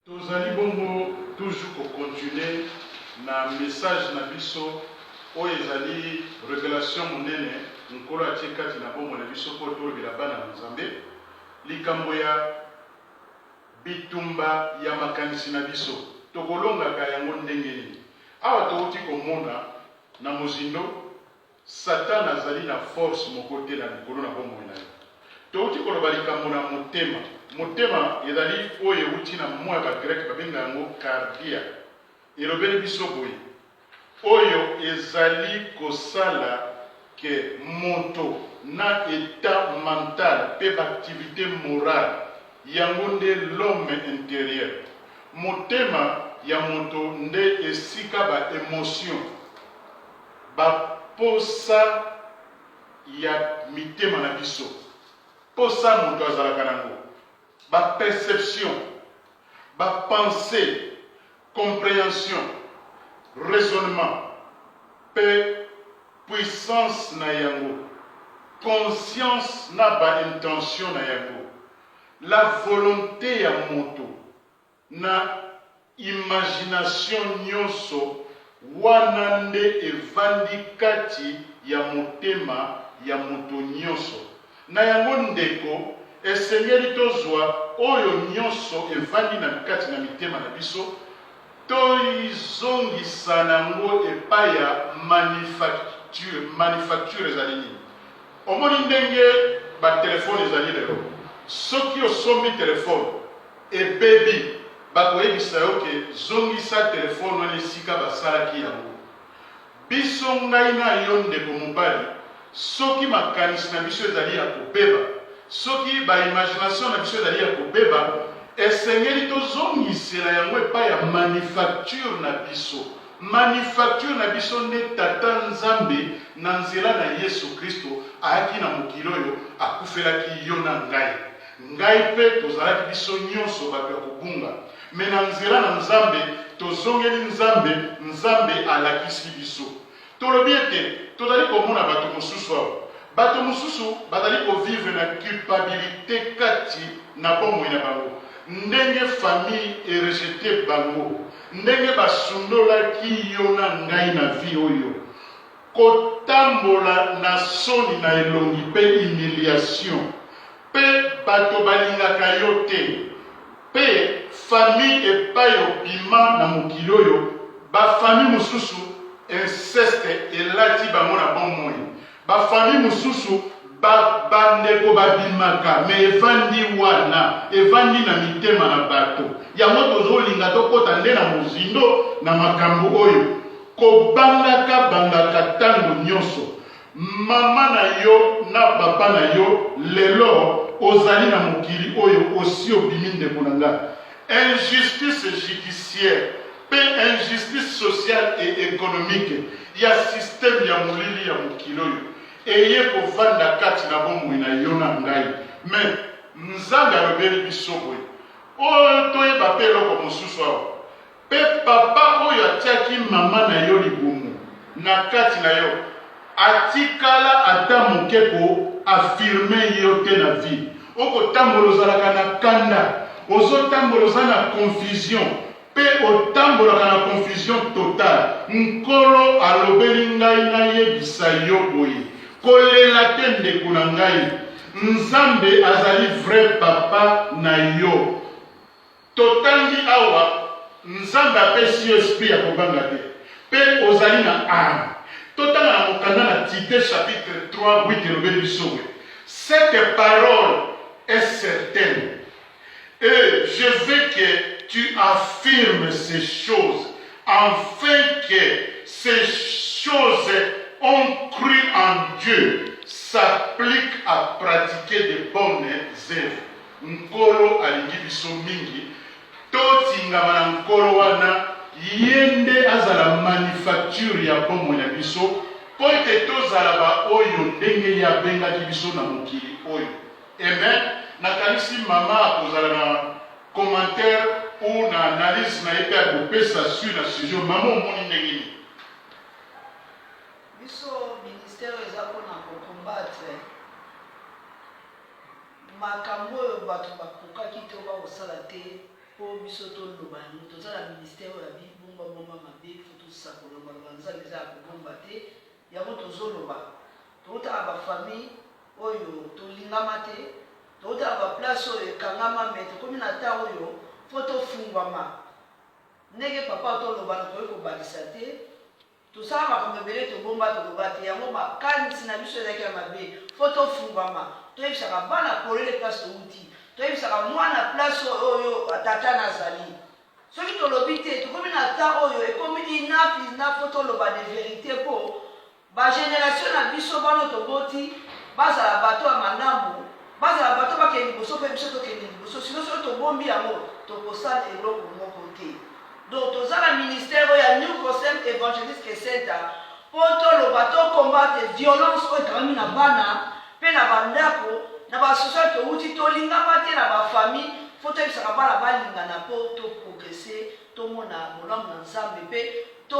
Tozali bongo toujours ko continuer na message na biso oyo ezali revelation monene Nkolo atie kati na bomoi na biso mpo tolobela bana na Nzambe likambo ya bitumba ya makanisi na biso. Tokolongaka yango ndenge nini? Awa towuti komona na mozindo, Satana azali na force moko te na likolo na bomoi na yo. Touti koloba likambo na motema. Motema ezali oyo euti na mot ya ba Grec babenga yango kardia. Elobeli biso boye, Oyo ezali kosala que moto na etat mental pe b'activite morale. Yango nde l'homme interieur. Motema ya moto nde esika ba emotions. Baposa ya mitema na biso. Posa moto azalaka na yango. Ba perceptions, ba pensees, comprehension, raisonnement mpe puissance na yango, conscience na ba intentions na yango, la volonte ya moto. Na imagination nionso wana nde evandi kati ya motema ya moto nionso. Na yango ndeko, esengeli tozua oyo nionso evandi na kati na mitema na biso, toizongisa nango epai ya manufacture. Manufacture ezali nini? Omoni ndenge ba telephone ezali lelo? Soki osombi telephone, ebebi bakoyebisa yo ke zongisa telephone wana esika basalaki yango biso ngai na yo ndeko mobali soki makanisi na biso ezali ya kobeba soki ba imagination na biso ezali ya kobeba esengeli tozongisela yango epai ya manufacture na biso manufacture na biso nde tata nzambe na nzela na yesu kristo ayaki na mokili oyo akufelaki yo na ngai Ngai mpe tozalaki biso nyonso bato ya kobunga, mais na nzela na Nzambe tozongeli Nzambe, Nzambe alakisi biso. Tolobi ete tozali komona bato mosusu awa, bato mosusu bazali ko vivre na culpabilite kati na bomoi na bango, ndenge famille e rejeter bango, ndenge basundolaki yo na ngai na vie oyo, kotambola na soni na elongi pe humiliation pe bato balingaka yo te pe famille epayi obima na mokili oyo ba famille mosusu inceste elati bango na bomoi ba famille mosusu ba bandeko babimaka mais evandi wana evandi na mitema na bato yango tozolinga tokota nde na mozindo na makambo oyo. Kobangaka bangaka tango nyoso mama na yo na papa na yo lelo ozali na mokili oyo osi obimi ndeko na nga injustice judiciaire pe injustice sociale et economique ya système ya molili ya mokili oyo eye kovanda kati na bomoi na yo na ngai mais nzambe alobeli biso boye oyo toyeba pe eloko mosusu awa Pe papa oyo atiaki mama na yo libumu na kati na yo atikala ata moke ko affirmer yo te na vie. Oko tambola ozalaka na kanda, ozo tambola oza na confusion pe otambolaka na confusion total. Nkolo alobeli ngai na yebisa yo boye, ko lela te ndeko na ngai, Nzambe azali vrai papa na yo. Totangi awa, Nzambe apesi yo esprit ya kobanga te, mpe ozali na arme. Totanga na mokanda na Tite chapitre 3 8 elobeli biso boye, Cette parole est certaine et je veux que tu affirmes ces choses, afin que ces choses ont cru en Dieu s'appliquent à pratiquer de bonnes oeuvres. Nkolo alingi biso mingi totingama na Nkolo wana Ye nde azala manufacture ya bomoi na biso mpo ete tozala baoyo ndenge Ye abengaki biso na mokili oyo. Amen! Nakanisi mama akozala na commentaire ou na analyse na ye mpe akopesa suit na sujet oyo. Mama omoni ndenge nini? Biso ministère eza pona ko combattre Makambo oyo bato bakokaki to bakosala te mpo biso toloba yango. Toza na ministère oyo ya bi bomba bomba mabe, il faut tosakola loba loba nzambe eza ya kobomba te yango tozoloba. Towuta na ba famille oyo tolingama te, towuta na ba place oyo ekangama mais tokomi na temps oyo faut tofungwama. Ndenge papa oyo toloba nakoki kobakisa te. Tosala makambo ebele tobomba toloba te yango makanisi na biso ezalaki ya mabe faut tofungwama toyebisaka bana polele place towuti toyebisaka mwana place oyo tata na azali soki tolobi te tokomi na temps oyo ekomi enough is enough faut toloba de verite po ba generation na biso bana oyo toboti bazala bato ya malamu bazala bato bakende liboso pe biso tokende liboso sino soki tobombi yango tokosala eloko moko te. Donc toza na ministère oyo ya New Concept Evangelisque Center po toloba, to combattre violence oyo ekangami na bana pe na ba ndako, na ba association towuti, tolingama te na ba famille, faut toyebisaka bana balingana po to progresser, tomona bolamu na Nzambe pe to.